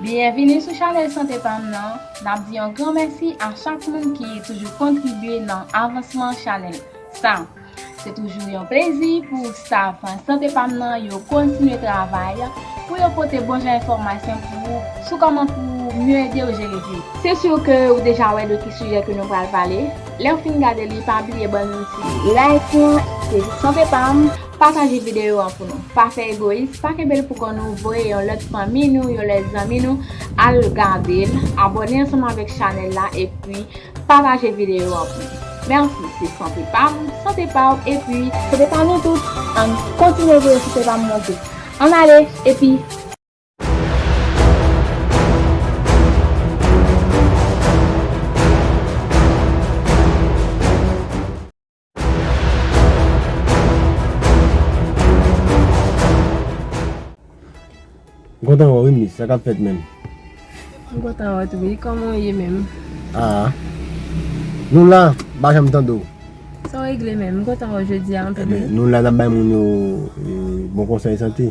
Byenvini sou chanèl Sante Pam nan, n ap di yon gran mèsi a chak moun ki toujou kontribye nan avansman chanèl sa. Se toujou yon plezi pou staff Sante Pam nan yo kontinye travay pou yo pote bon jan enfòmasyon pou ou sou kòman pou ou mye ede ou jere griv. Se sur ke ou deja wè de ki sijè ke nou pral pale, lèw fin gade li pa bliye bann yon ti. Like lan, se Sante Pam. Pataje videyo an pou nou. Pa fè egoyis, pa kenbe l pou kò nou, voye yon lòt fanmi nou, yon lòt zanmi nou al gade l, abòne ansanm avèk chanèl la epi pataje videyo an pou nou. Mèsi, se sante pa m, sante pa w epi. Sante pa nou tout! Ann kontinye voye sante pa m monte. Ann ale epi. M kontan wè w wi Miss, sa k ap fèt menm? M kontan wè w tou wi, kòman w ye menm? A Nou la, m pa janm tande w. Sa w regle menm? M kontan wè w jodi a anpil wi. Nou la n ap bay moun yo bon konsèy sante.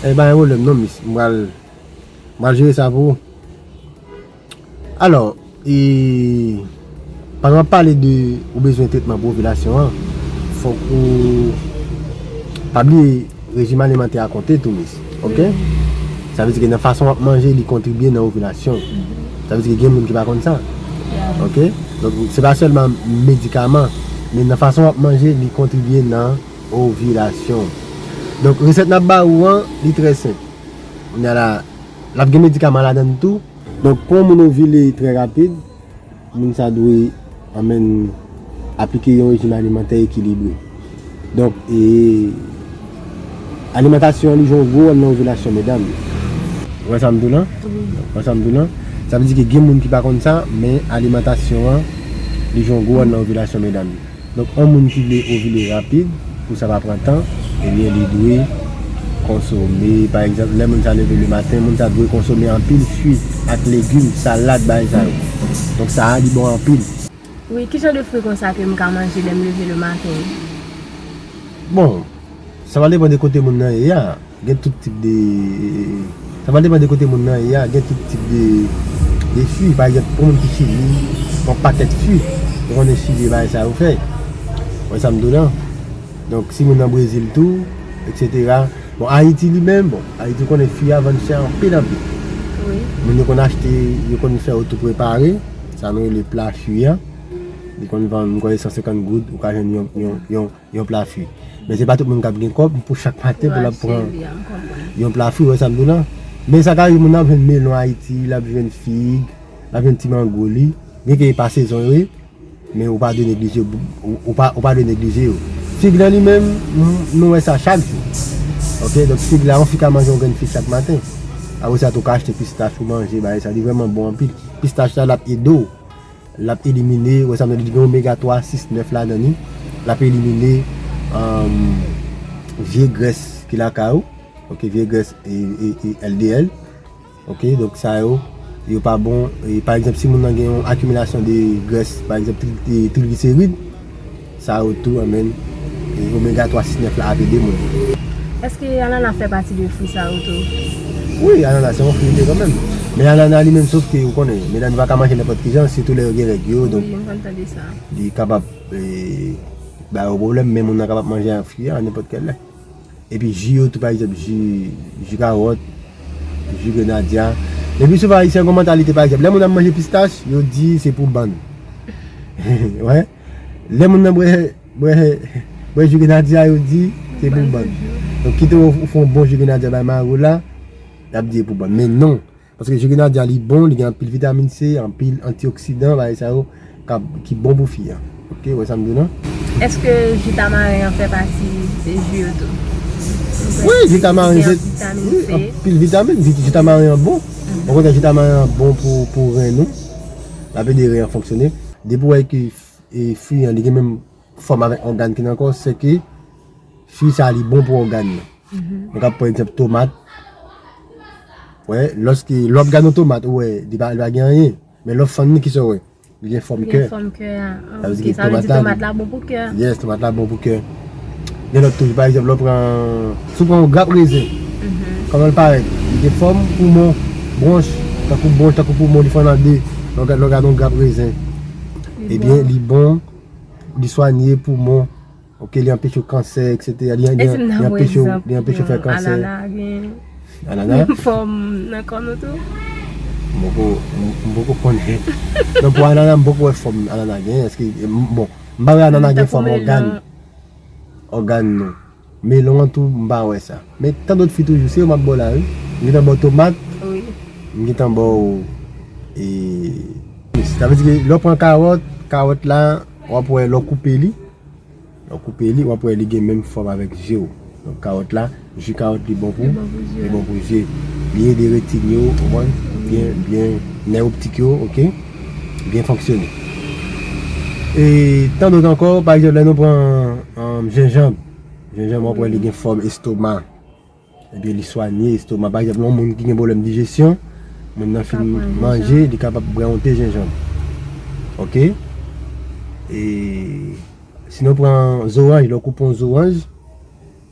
Eey pa gen pwoblèm non miss m pral m pral jere sa pou ou Alors e pandan wap pale de ou bezwen tretman pou ovilasyon an fòk ou pa bliye rejim alimantè a konte tou miss ok sa vle di ke nan fason wap manje li kontribye nan ovilasyon ou sa vle di ke gen moun ki pa konn sa ok donk se pa sèlman medikaman men nan fason wap manje li kontribye nan. Ovilasyon Donk resèt nap ba ou an li trè senp Kounye a la lap gen medikaman ladann tou Donk pou yon moun ovile trè rapid moun sa dwe anmenn aplike yon rejim alimantè ekilibre Donk e Alimantasyon an li jwe yon gwo wòl nan ovilasyon medam yo Ou wè sa m di w lan? Ou wè sa m di w lan? Sa vle di ke gen moun ki pa konn sa men alimantasyon an li jwe yon gwo wòl nan ovilasyon medam yo. Donk on moun ki vle ovile rapid pou sa pa pran tan ebyen li dwe konsome pa egzanp lè moun sa leve le maten moun sa dwe konsome anpil fwi ak legim, salad bagay sa yo. Donk sa a li bon anpil. Wi, ki jan de fwi konsa ke m ka manje lè m leve le maten? Bon, sa va depan de kote moun nan ye a. Gen tout tip de Sa pral depan de kote moun nan ye a gen tout tip de de fi pa egzanp pou moun ki sibi yon pakèt fi ou konnen sibi bagay sa yo fè wè sam di w lan donk si moun nan brezil tou eksetera bon ayiti li menm bon ayiti ou konnen fi a vann chè anpil anpil moun yo konn achte yo konn fè yo tou prepare sa nou rele pla fi a li konn vann m kwè se 150 goud ou ka jwenn yon yon Yon pla fwi. Men se pa tout moun kap gen kob pou chak maten pou lap pran yon pla fwi, ou wè sam di w la. Men sa ka rive moun nan ap jwenn melon Ayiti, lap jwenn fig, lap jwenn ti mango li. Byen ke yo pa sezon yo wi, men ou pa dwe neglije ou pa dwe neglije yo. Fig lan li menm, nou wè sa chak jou. Ok, donk fig la, yon fi ka manje yon grenn fig chak maten. Apresa tou ka achte pistach ou manje bagay sa, li vreman bon anpil. Pistach la lap ede w. Lap elimine, wè sa m nan li di gen omega 3, 6, 9 ladan li, lap elimine vye grès ki lakay ou, ok vye grès LDL, ok donk sa yo yo pa bon, pa egzanp si moun nan gen yon akimilasyon de grès pa egzanp trigliserid. Sa yo tou anmèn. E omega 3 6 9 la ap ede moun. Eske anana fè pati de fwi sa yo tou? Wi anana se yon fwi li ye kan menm. Men anana li menm sof ke ou konnen medam yo pa ka manje nenpòt ki jan sitou lè yo gen règ yo donk li kapab ba yo pwoblèm men moun nan kapab manje ak fwi a nenpòt kèl lè. Epi ji yo tou pa egzanp ji kawòt, ji grenadya. Le pi souvan ayisyen gen yon mantalite pa egzanp lè moun ap manje pistach yo di se pou bann. Wè? Lè moun nan bwè bwè ju grenadye a yo di se pou bann. Donk kite ou fè yon bon ju grenadye bay Maro la, y ap di e pou bann. Men non, paske ju grenadye a li bon, li gen anpil vitamin C, anpil antioksidan, bagay sa yo ki bon pou fi a. Ok, ou wè sa m di w la? Eske ju tamaren an fè pati de ju yo tou? Wi, ju tamaren gen anpil vitamin. Ju tamaren an bon. Ou konnen ju tamaren an bon pou ren nou. Lap ede ren an fonksyone. Depi ou wè ke fwi an li gen menm fòm avèk ògàn ki nan kò, se ke fwi sa li bon pou ògàn yo. Nou ka pran egzanp tomat, ou wè, lòske, lè wap gade yon tomat ou wè li pa gen anyen, men lè w fann li ki sa ou wè? Li gen fòm kè. Li gen fòm kè a, sa vle di tomat la bon pou kè a. Yes, tomat la bon pou kè. Gen lòt tou, pa egzanp lè w pran, si w pran yon grap rezen, kòman l parèt? Li gen fòm poumon, bwonch, tankou bwonch, tankou poumon, li fòn an de, lè w gade yon grap rezen. Ebyen, li bon, li swanye poumon, ok, li anpeche kansè, eksetera, li anpeche w, li anpeche w fè kansè. Anana gen, anana gen fòm nan kò nou tou? M poko, m poko konnen. Nan pou anana m poko wè fòm anana gen, èske, bon. Mpa wè anana gen fòm ògàn ògàn non melon an tou mpa wè sa men tandot fi toujou se yo map baw la wi m gentan baw tomat m gentan baw ee sa vle di ke lèw pran karòt karòt la wap wè lèw koupe li lèw koupe li wap wè li gen menm fòm avèk jew donk karòt la. Ju kawòt li bon pou, li bon pou je, li ede retin yo, ou konprann, byen, byen, nèv optik yo, ok, byen fonksyone. E tan dot ankò, pa egzanp lè nou pran jenjanb, jenjanb wap wè li gen fòm estoma, ebyen li swanye estoma, pa egzanp yon moun ki gen pwoblèm dijesyon, moun nan fin manje, li kapab bwè yon te jenjanb. Ok, e si nou pran zoranj, lè w koupe yon zoranj.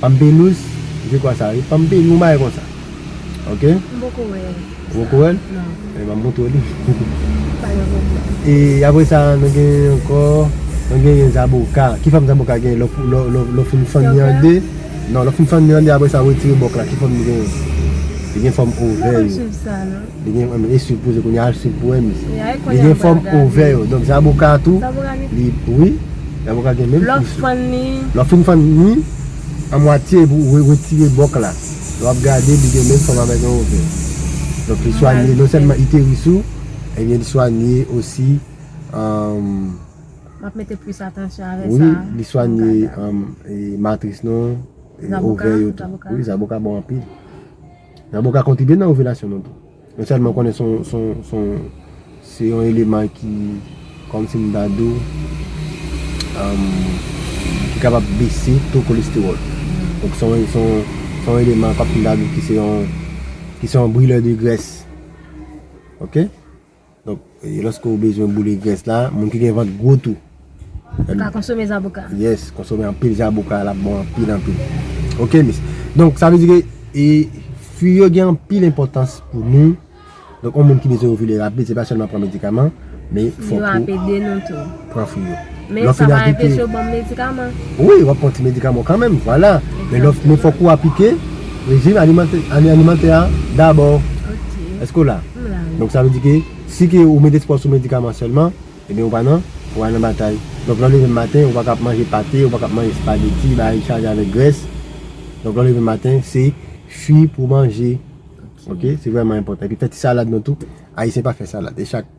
Pampelous se kwa sa wi. Pampi yon bagay konsa ok. M poko wè sa. Ou poko wè l? Non. Ebyen map montre w li. Pa gen pwoblèm. E apre sa nou gen ankò, nou genyen zaboka. Ki fòm zaboka genyen lè w fin fann li an 2? Non lè w fin fann li an 2 apre sa w retire bòk la ki fòm li genyen? Li gen fòm ovè yo. M poko swiv sa non. Li gen fòm e sub poze kounya al sub pou en mis. Li gen fòm ovè yo. Donk zaboka tou. Zaboka gen. Li wi. Zaboka gen menm kous. Lò fann ni. Lò fin fann ni an mwatye epi ou retire bòk la. Lè wap gade li gen menm fòm avèk yon ovè. Donk li swa ni non sèlman iteris ou ebyen li swa ni osi Wap mete plis atansyon avè sa. Wi li swa ni matris nou. Zaboka. Zaboka bon anpil. Nabo ka kontribye nan ovilasyon nou tou. Mwen sèlman konnen se yon eleman ki kòm si m ta di w ki kapab bese to kolestewòl. Donk se yon eleman kòm si m ta di w ki se yon brilè de grès. Ok? Donk lòske ou bezwen boule grès la, moun ki gen vant gwo tou. Yo ka konsome zaboka. Yes, konsome anpil zaboka l ap bon anpil anpil. Ok mis. Donk sa vle di ke e fwi yo gen anpil enpòtans pou nou. Donk yon moun ki bezwen ovile rapid se pa sèlman pran medikaman, men fòk ou. Yo ap ede nou tou. Pran fwi yo. Men sa pa enpeche yo banm medikaman? Wi, wap pran ti medikaman w kanmenm, vwala. Men fòk ou aplike rejim alimantè a dabò. Ok. Èske w la? M la wi. Donk sa vle di ke si ke ou met espwa w sou medikaman sèlman, ebyen ou pa nan, ou pa nan batay. Donk lè w leve maten, ou pa ka ap manje pate, ou pa ka ap manje spageti, bagay ki chaje avèk grès. Donk lè w leve maten, se fwi pou w manje. Ok. Se vrèman enpòtan. Epi fè ti salad nou tou. Ayisyen pa fè salad. E chak.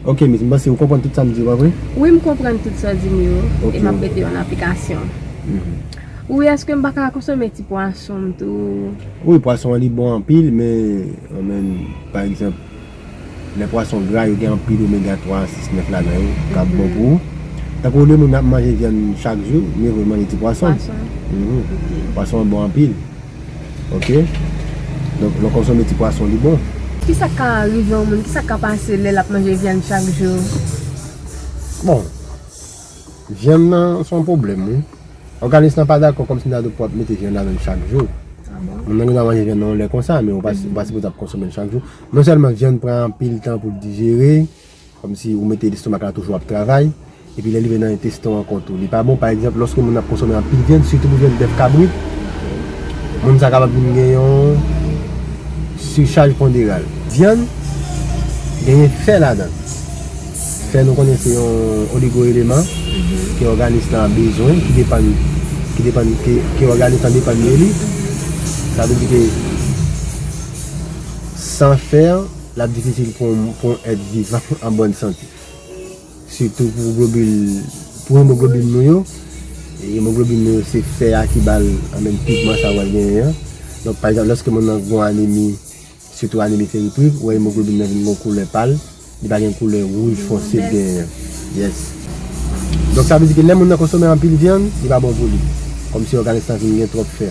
Ok miss, m panse ou konprann tout sa m di yo, pa vre? Wi m konprann tout sa w di m yo, e m ap mete yo an aplikasyon. Wi eske m pa ka konsome ti pwason m tou? Wi pwason an li bon anpil men, men pa egzanp lè pwason gra yo gen anpil omega 3, 6, 9 ladan yo k ap bon pou ou. Tankou olye moun ap manje vyann chak jou, mye vo l manje ti pwason. Pwason an bon anpil. Ok Donk lè w konsome ti pwason li bon. Kisa k ka rive yon moun? Kisa k ka pase lè l ap manje vyann chak jou? Bon Vyann nan se yon pwoblèm wi. Òganis lan pa dakò kòmsi ta di pou w ap mete vyann ladan l chak jou. Moun nan gen dwa manje vyann nan yon lè konsa men ou pa sipoze ap konsome l chak jou. Non sèlman vyann pran anpil tan pou l dijere. Kòmsi ou mete lestomak la toujou ap travay, epi lè li vin nan entestan ankò tou li pa bon. Pa egzanp, lòske moun ap konsome anpil vyann, sitou pou vyann bèf kabrit, moun sa kapab vin gen yon sichaj ponderal. Vyann genyen fè ladan l. Fè nou konnen se yon oligo-eleman ke òganis la bezwen, ki depann, ki depann, ke òganis la depann de li. Sa vle di ke san fè, L ap difisil pou yon èt vivan an bòn sante, sitou pou globil, pou emoglobin nou yo. Emoglobin nou yo se fè a ki ba l menm pigman sa a ou wè l genyen an. Donk, pa egzanp, lòske moun nan gen yon anemi, sitou anemi feritrik, ou wè emoglobin nan vin gen yon koulè pal, li pa gen koulè wouj fonse l genyen an. Yes. Donk, sa vle di ke lè moun nan konsome anpil vyann, li pa bon pou li. Kòmsi òganis lan vin gen twòp fè.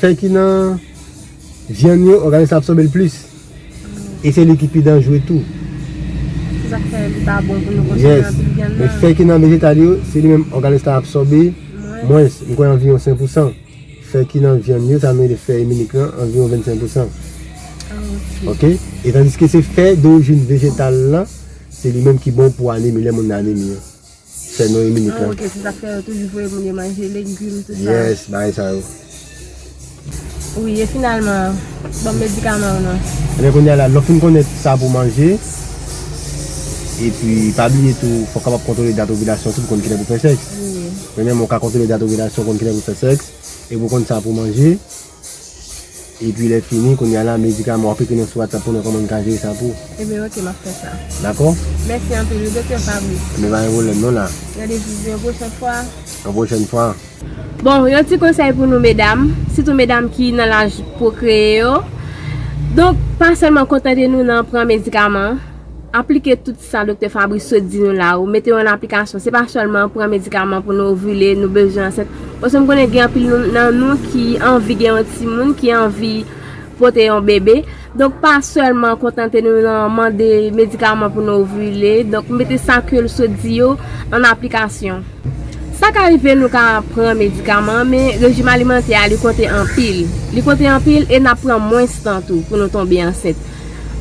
Fè ki nan vyann yo òganis la absòbe l plis e se li ki pi danjre tou. Se sa k fè li pa bon pou nou konsome anpil vyann nan. Men fè ki nan vejetal yo, se li menm òganis la absòbe mwens, m kwè anviwon 5 pousan. Fè ki nan vyann yo, sa nou rele fè iminik lan, anviwon 25 pousan. Ok. E tandiske se fè dorijin vejetal lan, se li menm ki bon pou anemi, lè moun nan anemi an. Fè nou yon minit lan. Ok, se sak fè yo toujou voye moun yo manje legim tout sa. Yes, bagay sa yo. Wi, e finalman, banm medikaman ou non. Ebyen kounya la, lè w fin konnen sa pou w manje, epi pa bliye tou fò w kapab kontwole dat ovilasyon w tou pou konn kilè pou w fè sèks. Premyèman ou ka kontwole dat ovilasyon w konn kilè pou w fè sèks, epi w konn sa pou w manje. Epi lè fini kounye a la medikaman wap ekri nou sou WhatsApp pou nou koman nou ka jere sa pou ou. Ebyen ok map fè sa. Dakò? Mèsi anpil wi Doktè Fabrice. Ebyen pa gen pwoblèm non la. Nan de di yon pwochèn fwa. Yon pwochèn fwa. Bon yon ti konsèy pou nou medam, sitou medam ki nan laj pwokreye yo. Donk pa sèlman kontante nou nan pran medikaman, aplike tout. Sa Doktè Fabrice sot di nou la ou mete yo an aplikasyon se pa sèlman pran medikaman pou nou ovile nou bezwen ansent paske m konnen gen anpil nan nou ki anvi gen yon timoun ki anvi pote yon bebe donk pa sèlman kontante nou nan mande medikaman pou nou ovile donk mete sa ke l sot di yo an aplikasyon sa ka rive nou ka pran medikaman men rejim alimantè a li konte anpil li konte anpil e n ap pran mwens tan tou pou nou tonbe ansent.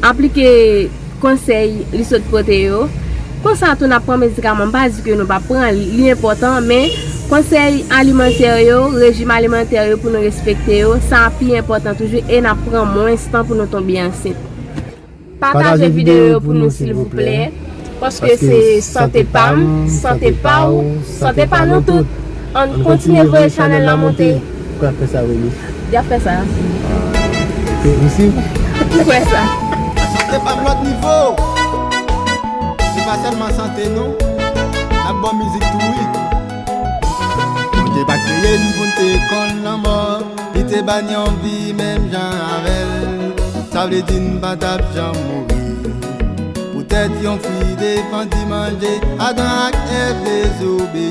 Aplike konsèy li sot pote yo. Konsa tou n ap pran medikaman. M pa di ke nou pa pran l, li enpòtan, men konsèy alimantè yo, rejim alimantè yo pou nou respekte yo, sa a pi enpòtan toujou e n ap pran mwens tan pou nou tonbe ansent. Pataje videyo yo pou nou silvouplè. Paske se sante pam, sante paw, sante pa nou tout. Ann kontinye voye chanèl la monte. Pouki yap fè sa Wendy? Yap fè sa. Se enposib. Ou kwè sa? Sante pam lòt nivo. Se pa sèlman sante non. Nap bon mizik tou wi. Bondye pa kreye n poun te konn lanmò. Li te ban yon vi menm jan avèl. Sa vle di n pa tap janm mouri. Poutèt yon fi defann di manje, Adan ak Èv dezobeyi.